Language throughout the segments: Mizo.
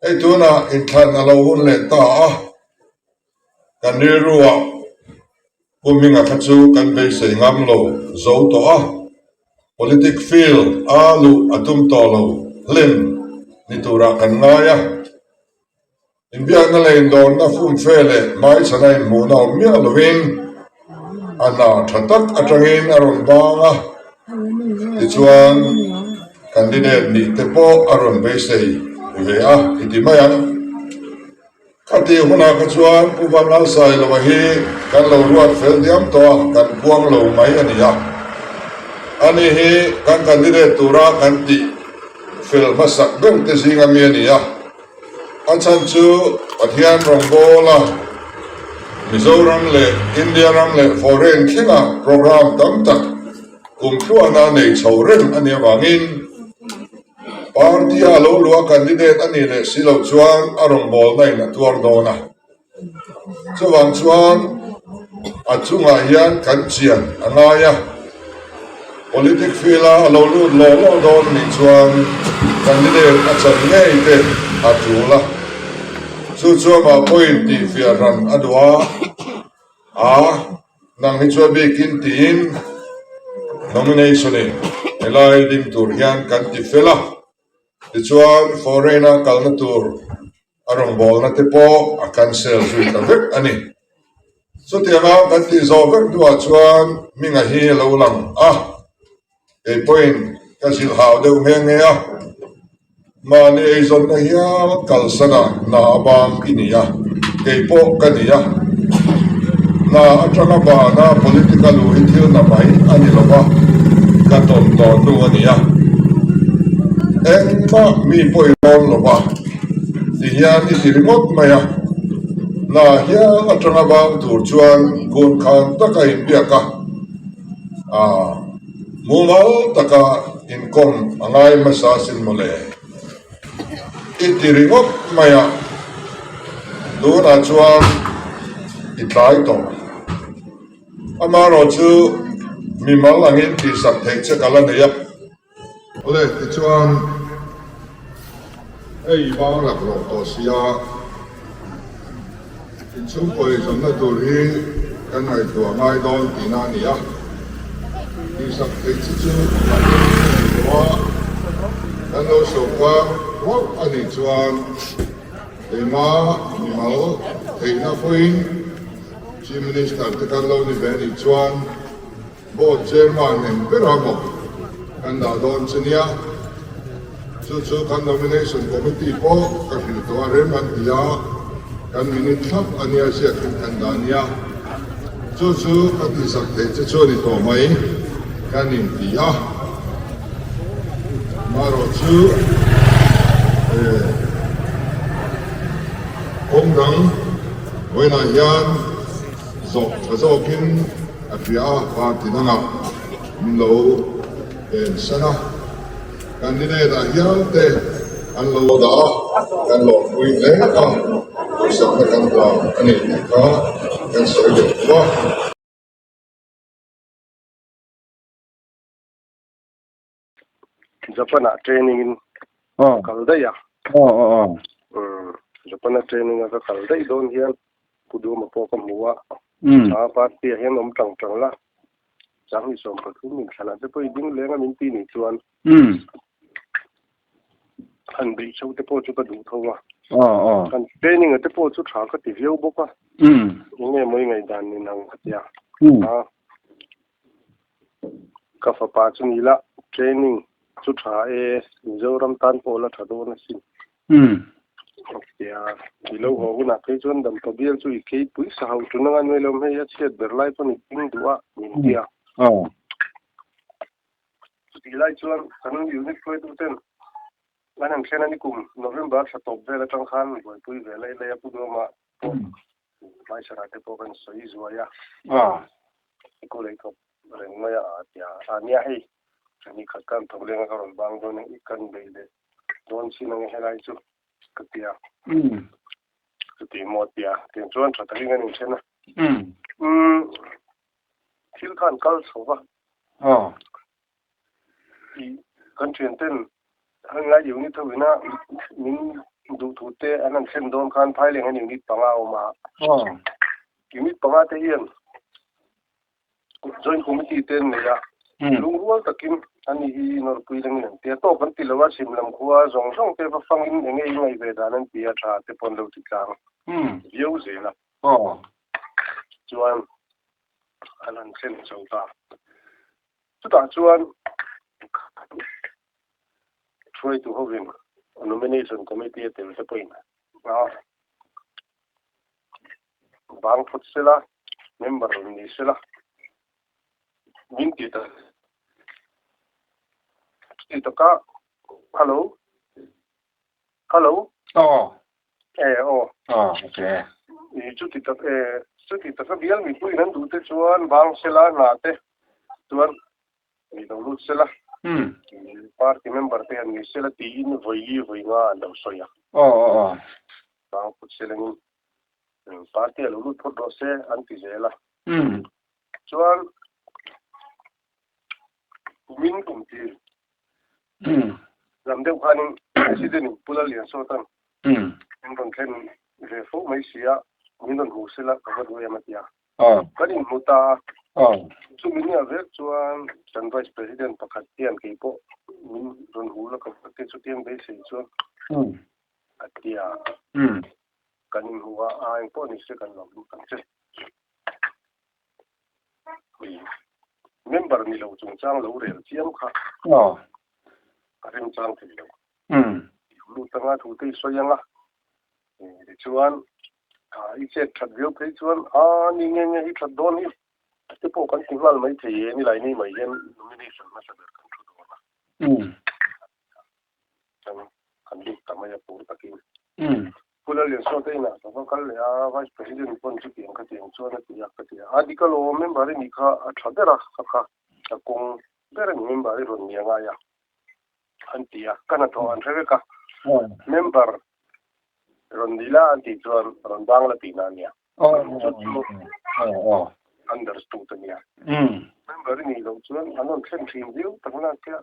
Hei tunah inthlan a lo hun leh ta a, kan rilru ah puhming a kha chu kan beisei ngam lo zo tawh a, politic field a luh a tum tawh lo hlen ni turah kan ngai a. Inbiakna leh indawnna fumfe leh hmaisana inhmuhna awm miah lovin a hna tha tak atangin a rawn bang a. Tichuan, candidate nih te pawh a rawn beisei ve a, i ti mai ang. Khatih hunah kha chuan Pu Van Lal Sailoa hi kan lo ruat fel diam tawh a, kan puang lo mai a ni a. Ani hi kan candidate tura kan tih fel hmasak berte zing ami a ni a. A chhan chu Pathian rawngbawl a Mizoram leh India ram leh foreign khinah program tam tak kum thluahna nei chho reng a ni avangin party-a a lo luah candidate a nih leh si lo chuan a rawngbawlna in a tuar dawn a. Chuvang chuan a chungah hian kan chian a ngai a, politics field a lo lut lawh lawh dawn nih chuan candidate a chan ngei te a tul a, chu chuan mah pawhin tih fiah hran a duh a, aah nang hi chuan bik in tiin nomination i helai ding tur hian kan ti fel a, tichuan foreign a kalna tur. A rawngbawlna te pawh a cancel zui ta vek a ni. Chutiang a kan tih zawh vek hnuah chuan Minga hi a lo lang a, kei pawhin ka zilh hau deuh nghe nghe a, mahni eizawnna hial kalsana hna avang i ni a, kei pawh ka ni a, hna atanga bana political u hi thil na mai a ni lo va, ka tawn tawh hnu a ni a, engmah mi pawh i rawn lo va. ti hian i ti ringawt mai a la hian atanga bang tur chuan gun khan taka in biak a ah mumal taka inkawm a ngai hmasa sin mawle i ti ringawt mai a tunah chuan i tlai tawh amaherawhchu mimal angin tihsak theih che ka la nei a. Kule tichuan hei vang rak lawm tawh sia, inchhungkawi zawmna tur hi kan ngaihtuah ngai dawn tihna a ni a, tihsak theih chi chu mahni hi a nei lo a, kan lo sawrkar ruauh a nih chuan keima mimal theihna pawhin Chief Minister te kan lo ni ve a nih chuan, Board Chairman nen ber a maw kan dah dawn che nia, chu chu kan Nomination Committee pawh ka hrilh tawh a rem an ti a, kan minute thlap a nia ziak in kan dah nia, chu chu ka tihsak theih che chu a ni tawh mai kan in ti a, marawh chu kawng dang vawilah hian. zawk tha zawkin a hria a, party dangah min lo en sen a, candidate a hial te an lo dah a, kan lawmpui hle a, harsatna kan hlan a nih tih kha kan sawi leh thu a. Japan ah training in oh. kal dai a oh oh oh um Japan ah training a kal dai don hian kudu ma po ka mua um a party a hian om tang tang la chang ni som pathum min thlan ate pawh ding lenga min ti ni chuan um han bei chho te pawh chu ka duh tho a oh oh kan training ate pawh chu tha ka ti viau bawk a um nge mai ngai dan ni nang khatia um a Ka fapa chu ni lah, training chu tha e, Mizoram tan pawh la tha dawn a si. Ka tia i lo haw hunah phei chuan Dampa bial chu i keipui sa hauh tun anga nuailo hmei a chhiat ber lai pawn i ping duh a, min ti a. Chutih lai chuan kan unit hruaitu ten an han thlen a ni kum, November tha tawp vel atang khan buaipui ve laih laih a pu duam a, Hmaisara te pawh kan sawi zuai a, i ku lei tawp reng mai a a tia a nia hei. Chu ni khat khan thawk lenga ka rawn bang dawn a, i kan beih leh dawn chin ang e helai chu ka ti a. Ka ti maw a ti a, tin chuan tha takin kan inthen a. Thil khan kal chho va. tih kan thianten Hlainlai unit ho ina min duhthut te an han thlen dawn khan Thailenga unit panga a awm a, unit panga te hian joint committee te an nei a, lungrual takin ani hi nawrpui lengin an tia tawk kan tilo a, simlam khua zawng zawng te va fangin enge i ngaih ve dan an tia tha te pawn lo ti tlang viau zel a, chuan an han thlen chho ta. Chutah chuan Khawhran hruaitu hovin Nomination Committee a tel te pawhin hna vang phut sela, member rawn ni sela min ti ta ti taka Hello? Hello? Aw. E, aw. Ah, ok. I, chuti ta, e, chuti taka bial mipuiin an duhte chuan vang sela hna te chuan mi lo lut sela, i, party member te an ni sela tiin vawi li vawi nga an lo sawi a. Aw, aw, aw. Vang phut selengin, u, party a lo lut phawt rawh se an ti zel a. Chuan. Tumin kum ti lam deuh khanin President in Pula Liansawt an in rawn thlen ve fo mai si a, min rawn hmuh sela ka vote nge em a ti a. Kan in hmu ta a, chumi ni ah vek chuan kan Vice President pakhat hian kei pawh min rawn hmuh la ka vote chutiang beisei chuan a ti a, kan in hmuh a, a eng pawh ni se kan lo hmuh kan che. member ni lo chung chang lo rel chiam kha a rem chang thei lo i lut anga thu te i sawi ang a tichuan i chet that viau phei chuan a ni nge nge hi that dawn hi te pawh kan ti nghal mai thei e ni lai ni mai hian nomination hmasa ber kan thu dawn a. Chuan kan lut ta mai a pur takin. Ih, Pula Liansuata inah ka va kal leh a, Vice President pawn chu tiang kha tiang chuan a ti a, ka ti a. A Dikal aw, member-i nih kha a tha ber a, kha kha ka kawng ber a ni, member-i rawn ni a ngai a, an ti a. Ka hnathawh an hre vek a, member rawn ni la an tih chuan rawn vang la tihna a nia, chu chu understood a nia. Member-i nih loh chuan an rawn thlen thin viau tak nakkia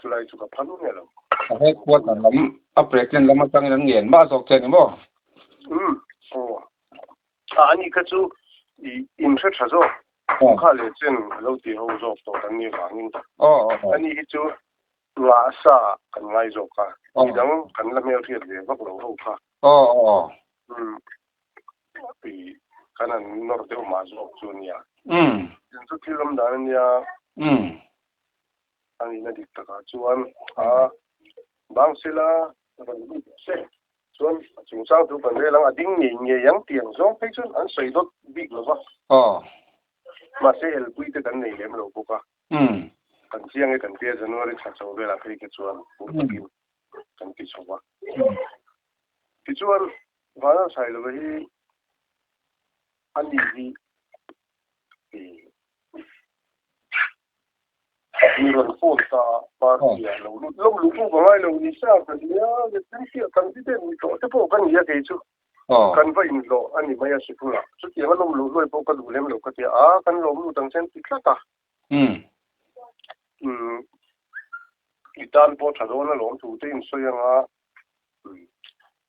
Chulai chu ka phan u nge lo. A headquarter lam a president lam atangin an ngen mah zawk che ni maw? Umm aw. A ani kha chu i in hre tha zawk. Chu kha leh chen a lo ti ho zawk tawh kan nih vangin ani hi chu ngah a sa ah kan ngai zawk a, midang kan la hmel hriat ve vak lo ho kha. Umm i kan han nawr deuh mah zawk chu a nia. Tin chu thil awm dan a nia. A nihna dik takah chuan a bang sela rawn lut se chuan a chungchang chu kan rel ang, a ding ngei ngei ang tih ang zawng phei chuan an sawi dawt bik lo va. Mahse elpui te kan nei lem lo bawk a, kan chiang e kan ti a, January thla chho velah phei kha chuan pur takin kan ti chho va. Tichuan Vana Sailova hi a ni hi. Min rawn phone ta a, party ah lo lut lo luh buk a ngai lo ni sa ka nia, Lepui hi a kan ti ber ni tawh te pawh ka ni a kei chu. Kan va inhlawh a ni mai a Sipung ah, chutianga lawm luh luai pawh ka duh lem lo ka ti a, a kan lawm lut ang chen ti tlat a, umm i tan pawh tha dawn a lawm thu te in sawi anga umm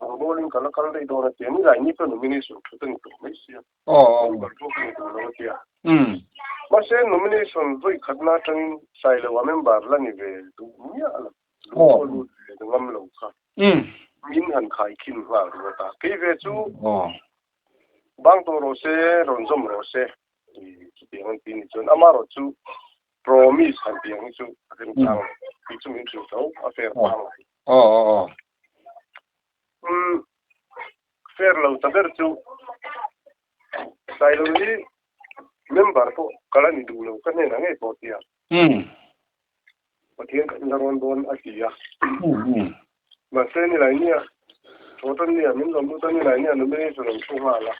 Bang bawlin ka la kal daih dawn a tia. Ni lai ni pawh nomination thu te ni tur mai sia. Member chu ka ni tur lo a tia. Mahse, nomination vawi khatna atangin sai loha member la ni ve duh miah lo. Lu pawh lut ve ka ngam lo kha. Min han khai khin nghal ringawt a. Kei ve chu bang tawh rawh se, rawn zawm rawh se ti chutiang an ti ni chuan ama erawh chu promise han ti ang hi chu a remchang lo. Ti chu min hrilh tho, a fair phang lo. share lo ta ber chu sailo hi member pawh ka la ni duh lo ka hnenah ngei pawh tia pathian ka inla rawn dawn a tia mahse nilai nia thawhtan nia min lo luta nilai nia numi chu lo thu nghal a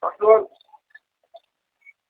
a chuan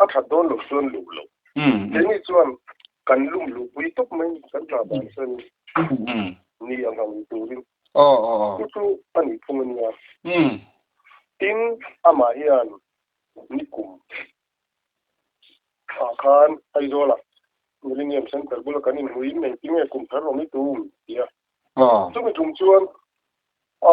A that dawn lo chuan luh lo. Keini chuan kan lum luhpui tawp mai kan hna dan chuanin ni a hmang turin chu chu a nih phung ania. Tin, amah hian ni kum ah khan Aizawla Millenium Centre bula kan inhmuiin eng tinge kum tharlawm i tum? tia. Chumi tum chuan a.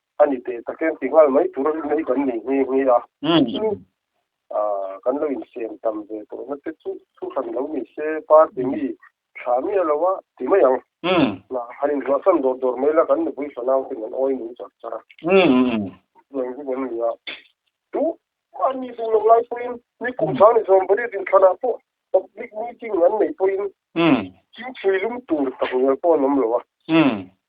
a ni teh tak em ti nghal mai tur mai kan nei nghe nghe a ah kan lo insem tam ve tawh na te chu thu hran lo ni se party mi thla miah lo a ti mai ang han inruahsan dawr dawr mai la kan nupui fanau ten an awi nuh char char a heng hi kan ni a chu a ni duh loh lai pawhin ni kum sang ni zawm pariat in thlan ah pawh public meeting an nei pawhin thingpui lum tur tak hmel pawh an awm lo a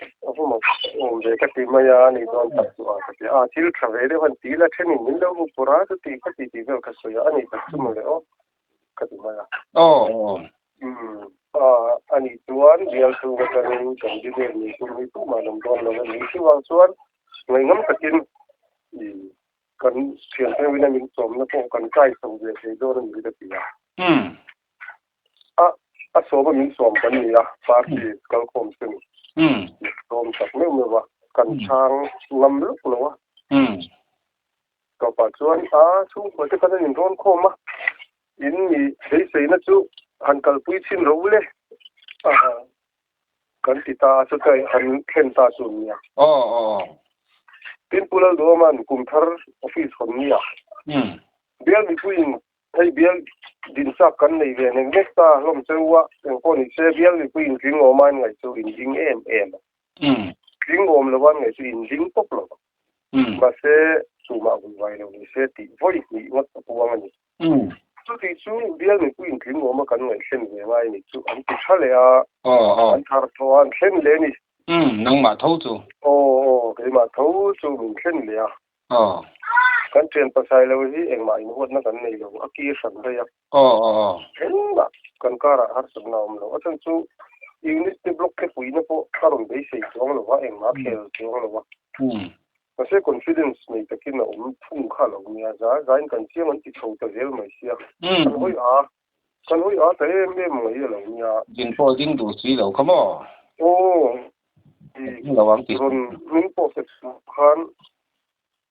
Ka hmu mai chu ka awm ve ka ti mai a, ni dawn tak chu a ka ti a, thil thla ve deuh a'n ti la, thenin min lo hmu pur a, chuti ka titi vel ka sawi a, a ni tak chu maw le aw ka ti mai a. Aw aw aw. Umm a a nih chuan bial chhung atangin kan bi vel ni tur hi pump a lam dawn lo a ni, chuvang chuan ngaihnam takin i kan thianpheuhina min sawmna pawh kan kai chho ve thei dawn a ni ka ti a. Umm. A a sawma min sawm kan ni a, party kal khawm se ni. Min sawm tak meuh meuh a, kan chhang ngam lawk lo a. Tawpah chuan a chhungkua te khan an inrawn khawm a, in mi beiseina chu han kalpui chin ro le a kan ti ta a, chuta han thlen ta chu a nia. Tin Pu Lalduaman kum thar office hawn nia, Bialmipuiin Hei bial din chak kan nei ve nek nek ta hlawm cheuhah engpawh ni se bial mipui in tling awm ain ngaih chu in ding em em a, tling awm lo ain ngaih chu in ding tawp lo a, mahse tumah vui vai lo ni se tih vawi hnih ngawt ka puang a ni. Chutih chu bial mipui in tling awm a kan ngaih hlen ve ngai nih chu an ti tha leh a, an thar tho a, an hlen leh a ni. Nangmah tho chu? Aw aw, keimah tho chu min hlen leh a. Aww. Kan thian pasai lo hi engmah inhuatna kan nei lo a ki hran daih a. Aww aww aww. Engmah kan karah harsatna a awm lo a chhan chu unit te block te puihna pawh a rawn beisei chuang lo va engmah a khel chuang lo a. Umm. Mahse confidence nei takin a awm thung kha a lo nia za zain kan chiang an ti chho ta zel mai sia. Umm. Kan hawi a. Ka nuih a ta em em mai a lo nia. Din pawh ding duh si lo kha maw? Aw, i ding lo ang tih si. Rawn min pawh fek si loh khan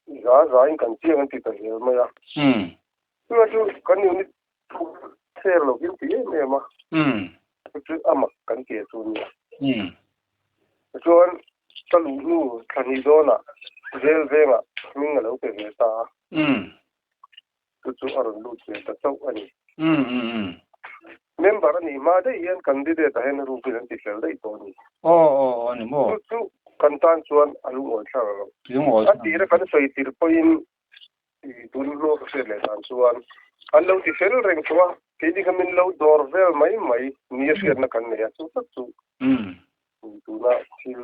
i za za in kan chiang an ti ta zel mai a. Umm. Tunah chu kan unit thu chher lo in ti em em a. Umm. Chu chu a mak kan ti a chu nia. Umm. Tichuan ka luh nu thla hnih dawnah zel vengah hming a lo pe ve ta a. Umm. chu chu a rawn lut ve ta chauh a ni. Member a nih mah daih hian candidate ah hian rupin an ti fel daih tawh a ni. Aw aw aw ni maw? Chu chu kan tan chuan a lungawi thlang ang lo. Lungawi thlang. A tira kan sawi tir pawhin i tun hnu a ka hriat leh dan chuan an lo ti fel reng thung a, kei ding kha min lo dawr vel mai mai ni a hriatna kan nei a, chu chu chu ni tuna thil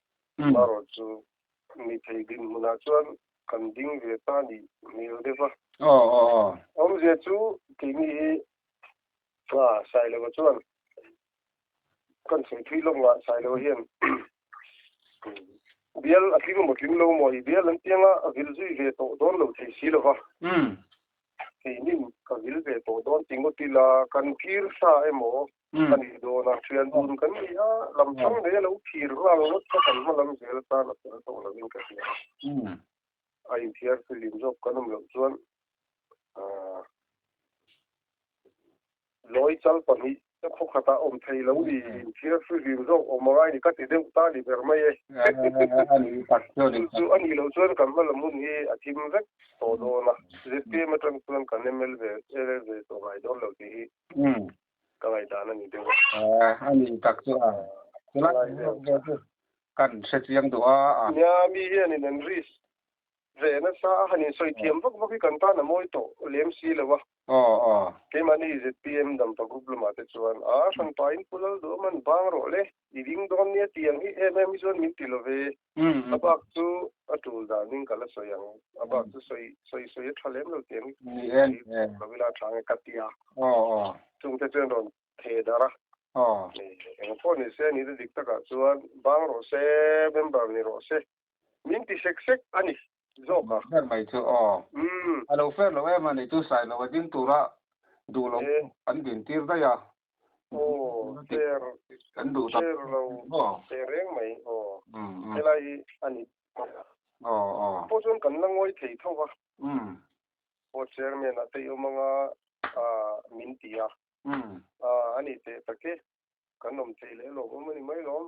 Marawh chu mi thei din hmunah chuan kan ding ve ta nih hmel deuh a. Awmzia chu kei mi hi Sailoa chuan kan sawi phui lawm ngah Sailoa hian bial a tling maw tling lo maw i bial an tiang a a vil zui ve tawh dawn lo thei si lova keiin ka vil ve tawh dawn ti ngawt ila kan kir hla emaw Ka nih dawn a, thian dun kan ni a, lam chang mai a lo phir nghal ngawt kha kan hma lam zel tan a fel tawh lovin ka hria a. A inthiar filim zawk kan awm loh chuan Lawi chal pahnih te khawkhatah awm thei lo ni, inthiar filim zawk awm angai ni ka ti deuh ta ni ber mai e. Chu chu a nih loh chuan kan hma lam hun hi a thim vek tawh dawn a, ZPM atang chuan kan MLA ve tawh ngai dawn lo tih hi ka ngaihdan a ni deuh. Aw, a ni tak chu a. Tuna kan zawk vel chu kan hre chiang duh a a. Nia, mi hianin an ris ve nasa a, han insawi thiam vak vak hi kan tan a mawi tawh lem si lo a. Aw aw. Keimahni zpm dampa group lamah te chuan a hran pahin pu lal duh a man bang rawh le, i ding dawn nia tiang hi em em hi chuan min ti lo ve. a bak chu a tul danin ka la sawi ang, a bak chu sawi sawi sawi a tha lem lo tih ang i sawi bawk lo ila tha nge ka ti a, chungte chuan rawn theh darh a, eng pawh ni se a nih na dik takah chuan bang rawh se member ni rawh se min ti sek sek a ni. zawk a fer mai chu aw a lo fer loh em a ni chu sai lo a ding tura duh loh pawh an din tir daih a kan duh ta aw teh reng mai aw helai hi a ni aw aw pawh chuan kan la ngawi thei tho va pawh chairman a tei awm ang a min ti a a ni teh tak e kan awm thei leh lawm awm a ni mai lawm.